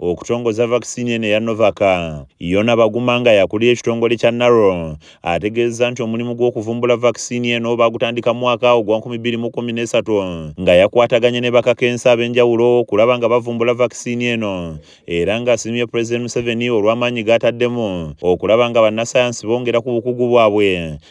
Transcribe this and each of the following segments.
okutongoza vaccine eno eya Novak. Yona Baguma nga yakulira ekitongole kya NARO ategeezza nti omulimu gw'okuvumbula vaccine eno baagutandika mu mwaka ogwa 2013 nga yakwataganye ne bakakensi ab'enjawulo okulaba nga bavumbula vaccine eno era ng'asiimye Pulezidenti Museveni olw'amaanyi g'ataddemu okulaba nga bannasayansi bongera ku bukugu bwabwe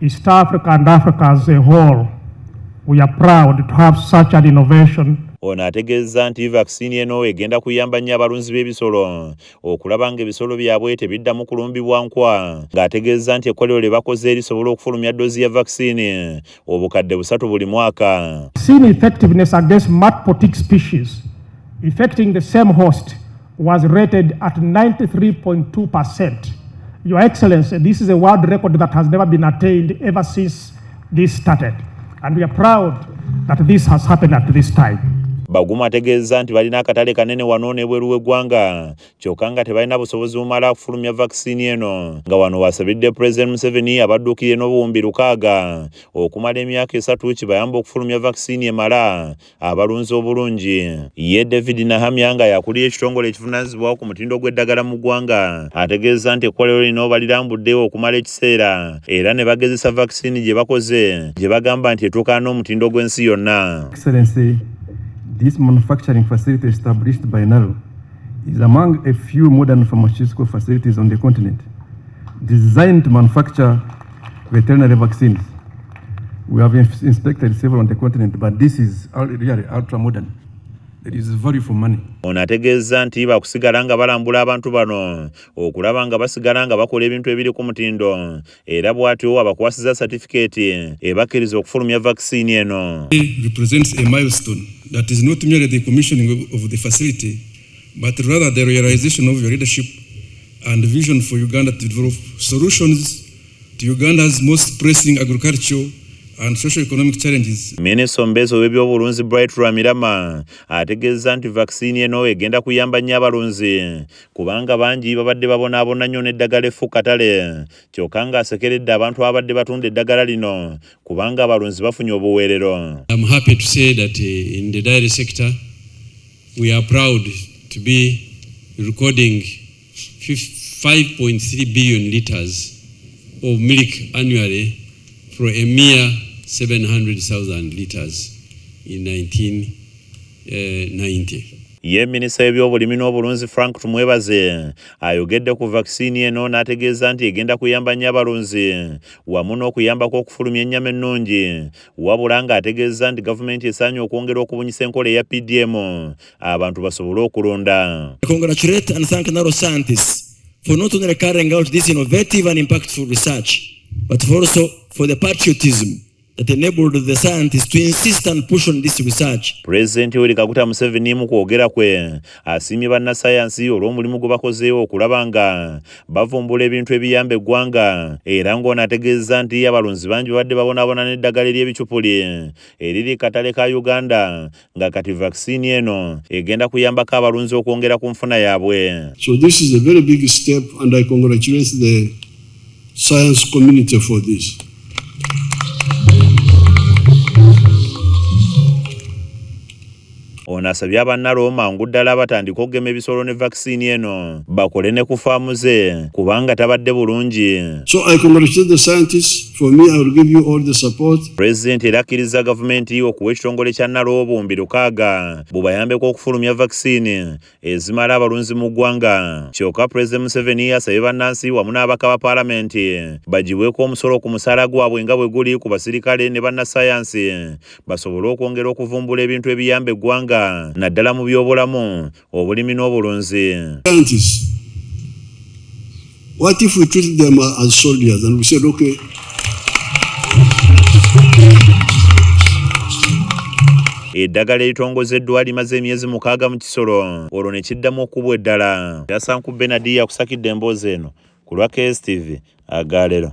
East Africa and Africa as a whole, we are proud to have such an innovation. Ono ategeezza nti vaccine eno egenda kuyamba nnyo abalunzi b'ebisolo okulaba ng'ebisolo byabwe tebiddamu kulumbibwa nkwa ng'ategeezza nti ekkolero lye bakoze lisobola okufulumya ddoozi ya vaccine obukadde busatu buli mwaka effectiveness against multiple tick species affecting the same host was rated at 93.2%. Your Excellency, this is a world record that has never been attained ever since this started. And we are proud that this has happened at this time. Baguma ategeezza nti balina akatale kanene wano n'ebweru w'eggwanga kyokka nga tebalina busobozi bumala kufulumya vaccine eno nga wano wasabidde President Museveni abadduukirire n'obuwumbi lukaaga okumala emyaka esatu kibayamba okufulumya vaccine emala abalunzi obulungi ye david nahamya nga yakulira ekitongole ekivunanyizibwawo ku mutindo gw'eddagala mu ggwanga ategeeza nti ekkolero lino obalirambuddewo okumala ekiseera era ne bagezesa vakisini gye bakoze gye bagamba nti etuukana n'omutindo gw'ensi yonna This manufacturing facility established by NARO is among a few modern pharmaceutical facilities on the continent designed to manufacture Veterinary vaccines. We have inspected several on the continent, but this is really ultra modern. It is value for money. Ono ategeezza nti bakusigala nga balambula abantu bano okulaba nga basigala nga bakola ebintu ebiri ku mutindo era bw'atyo abakwasiza satifikeeti ebakkiriza okufulumya vaccine eno. It represents a milestone that is not merely the commissioning of the facility but rather the realization of your leadership and vision for Uganda to develop solutions to Uganda's most pressing agricultural and socio-economic challenges. Minister Ombezo w'ebyobulunzi Bright Rwamirama ategeezza nti vaccine eno egenda kuyamba nnyo abalunzi kubanga bangi babadde babonaabona nnyo n'eddagala effu katale kyokka ng'asekeredde abantu ababadde batunda eddagala lino kubanga abalunzi bafunye obuweerero I'm happy to say that eh, in the dairy sector we are proud to be recording 5.3 billion liters of milk annually for a mere 700,000 liters in 1990. Eh, Ye minisita w'ebyobulimi n'obulunzi Frank Tumwebaze ayogedde ku vaccine eno n'ategeeza nti egenda kuyamba nnyo abalunzi wamu n'okuyambako okufulumya ennyama ennungi wabula ng'ategeezza nti gavumenti esaanye okwongera okubunyisa enkola eya PDM abantu basobole okulunda for not only carrying out this innovative and impactful research but also for the patriotism that enabled the scientists to insist and push on this research. President Yoweri Kaguta Museveni mu kwogera kwe asiimye bannasayansi olw'omulimu gwe bakozeewo okulaba nga bavumbula ebintu ebiyamba eggwanga era ng'ono ategeezza nti abalunzi bangi babadde babonaabona n'eddagala ery'ebicupuli eriri katale ka Uganda nga kati vaccine eno egenda kuyambako abalunzi okwongera ku nfuna yaabwe so this is a very big step and i congratulate the science community for this ono asabye abannalooma ngu ddala batandika okugema ebisolo ne vaccine eno bakole ne ku faamu ze kubanga tabadde bulungi. So I congratulate the scientists for me I will give you all the support. President era akkirizza gavumenti okuwa ekitongole kya Nalwobumbi lukaaga bubayambeko okufulumya vaccine ezimala abalunzi mu ggwanga kyoka President Museveni asabye bannansi wamu n'abaka ba palamenti bagibweko omusolo ku musaala gwabwe nga bwe guli ku basirikale ne bannasayansi basobole okwongera okuvumbula ebintu ebiyamba eggwanga naddala mu byobulamu obulimi n'obulunzi What if we treat them as soldiers and we said, okay, eddagala eritongozeddwa limaze emyezi mukaaga mu kisolo olwo ne kiddamu okubwa eddala yasanku benadi yakusakidde emboozi eno ku lwa kstv agaalero